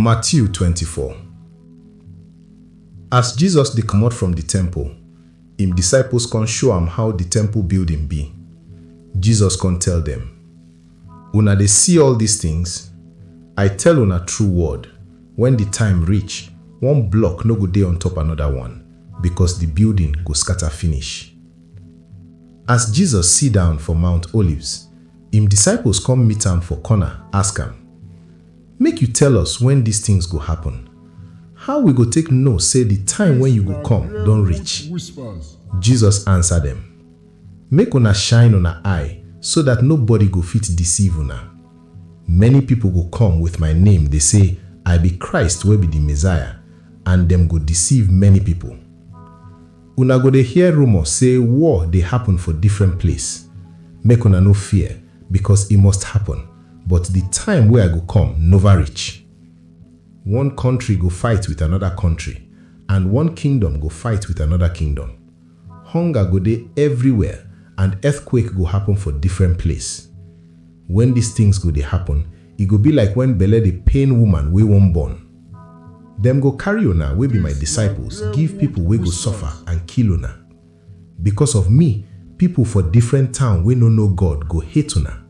Matthew 24 As Jesus dey comot from di temple, im disciples con show am how di temple building be. Jesus con tell dem, Una dey see all dis tins? I tell una true word, wen di time reach, one block no go dey on top anoda one, becos di building go scata finish. As Jesus sit down for Mount Olives, im disciples come meet am for corner, ask am, Make you tell us when dis tins go happen, how we go take know sey di time wey you go come don reach? Jesus ansa dem, Make una shine una eye so dat nobody go fit deceive una. Many pipo go come with my name dey sey, I be Christ wey be di Messiah, and dem go deceive many pipo. Una go dey hear rumour sey war dey happen for different place. Make una no fear, becos e must happen, but di time wey I go come nova reach. One kontri go fight wit anoda kontri, and one kingdom go fight wit anoda kingdom. Hunger go dey everywhere and earthquake go happen for different place. Wen dis tins go dey happen, e go be like wen belle dey pain woman wey wan born. Dem go carry una wey be my disciples give pipol wey go suffer and kill una. Bikos of mi, pipol for difrent town wey no know God go hate una.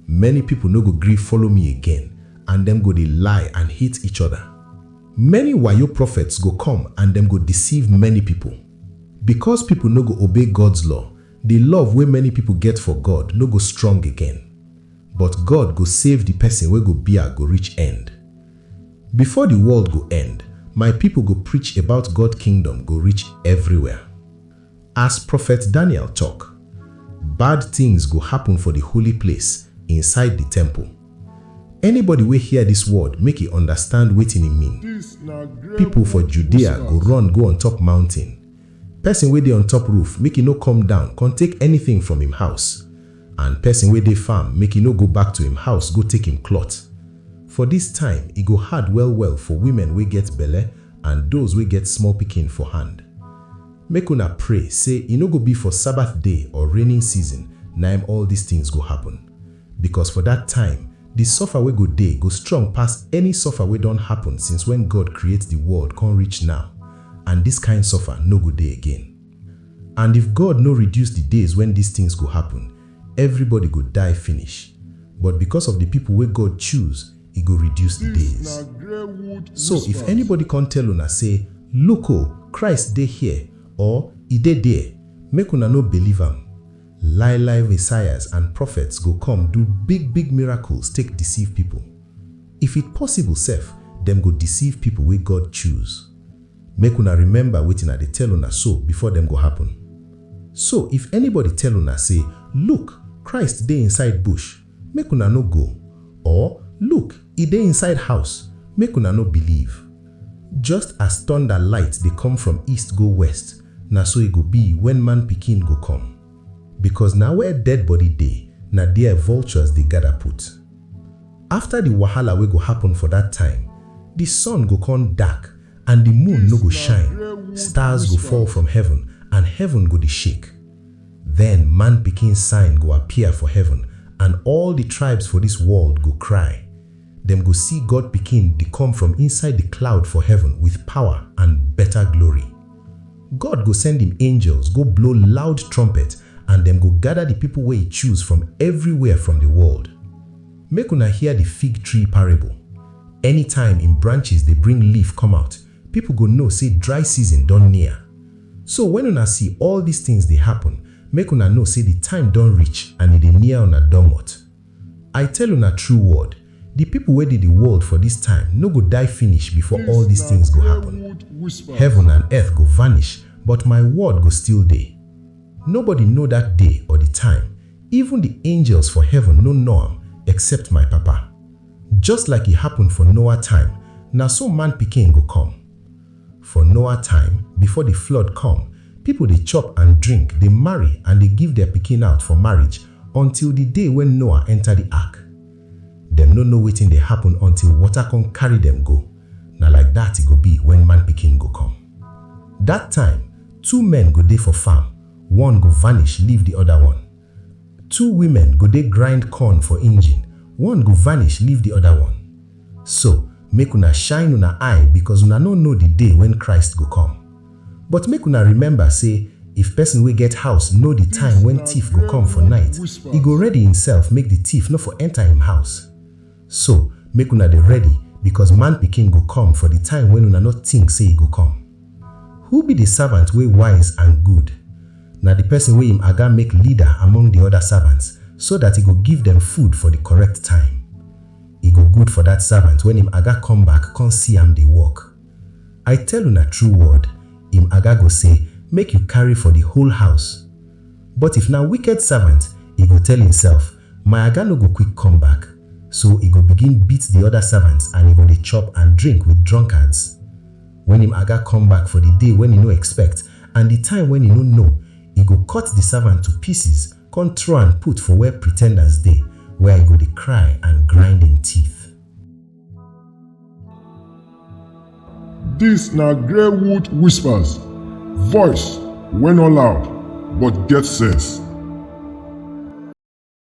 Many pipol no go gri follow mi again and dem go dey lie and hate each oda. Many wayo profets go kom and dem go deceive many pipol. Bikos pipol no go obey God's law, di love wey many pipol get for God no go strong again. But God go save di pesin wey go bia go reach end. Before di world go end, my pipo go preach about God Kingdom go reach evriwhere. As Prophet Daniel tok, bad tins go happun for di holy place, inside di temple. Anybody wey hear dis word make e understand wetin e mean. Pipo for Judea go run go on top mountain, Pesin wey dey on top roof, make e no come down kon take anytin from im house, and pesin wey dey farm, make e no go back to im house go take im klot. For dis time, e go hard well-well for wimen wey get belle and doz wey get small pikin for hand. Make una pray sey e no go bi for Sabath day or rainin season naim all dis tins go happen, bikos for dat time, di sofa wey go dey go strong pass any sofa wey don happen since wen God kreate di world kon reach naw. and dis kain suffer no go dey again. And if God no reduce di days wen dis tins go happun, evribody go die finish, but bicos of di pipo wey God choose, e go reduce di days. So if anybody con tell una sey, Look o, Christ dey here! or, E dey there! make una no believe am. Lai-lai Messiahs and prophets go come do big-big miracles take deceive pipo. If it possible sef, dem go deceive people wey God choose. Make una remember wetin I dey tell una so before dem go happen. So if anybody tell una say, Look! Christ dey inside bush, make una no go, or, Look! E dey inside house, make una no believe. Just as thunder light dey come from east go west, na so e go be when Man Pikin go come. because na where dead body dey na there vultures dey gather put. After the wahala wey go happen for that time, the sun go come dark and the moon no go shine, stars go fall from heaven and heaven go dey shake. Then man pikin sign go appear for heaven and all the tribes for this world go cry. dem go see God Pikin dey come from inside di cloud for heaven with power and beta glory. God go send im angels go blow loud trumpet and dem go gada di pipo wey e choose from evriwhere from di world. Make una hear di fig tree parable. Anytime im branches dey bring leaf come out, pipo go know sey dry season don near. So wen una see all dis tins dey happun, make una know sey di time don reach and e dey near una domot. I tell una true word, di pipo wey dey di world for dis time no go die finish before all dis tins go happun. Heaven and earth go vanish, but my word go still dey. Nobody know dat day or di time, even di angels for heaven no know am except my Papa. Just like e happun for Noah time, na so Man Pikin go come. For Noah time, before di flood come, pipo dey chop and drink, dey marry and dey give dia pikin out for marriage until di day wen Noah enta di ark. Dem no know wetin dey happun until water come carry dem go. Na like dat e go be wen Man Pikin go come. Dat time, two men go dey for farm, one go vanish leave di oda one. Two women go dey grind corn for engine, one go vanish leave di oda one. So, make una shine una eye bikos una nor know di day wen Christ go come. But make una remember sey, if pesin wey get house know di time wen tiff go come for night, e go ready imsef make di tiff nor for enta im house. So, make una dey ready, bikos Man Pikin go kom for di time wen una nor tink sey e go kom. Who bi di savant wey wise and good? Na di pesin wey im Aga make lida among di oda savants, so dat e go give dem food for di korrekt time. E go good for dat savant wen im Aga kom back kon si am dey work. I tell una true word, im Aga go sey, Make yu karry for di whole house. But if na wiked savant, e go tell imself, My aga no go quick come back, so e go begin beat di oda servants and e go dey chop and drink wit drunkards. Wen im aga come back for di day wen e no expect and di time wen e no know, e go cut di servant to pieces con throw am put for where pretenders dey, where e go dey cry and grind im teeth. Dis na Greywood Whispers, voice wey no loud but get sense.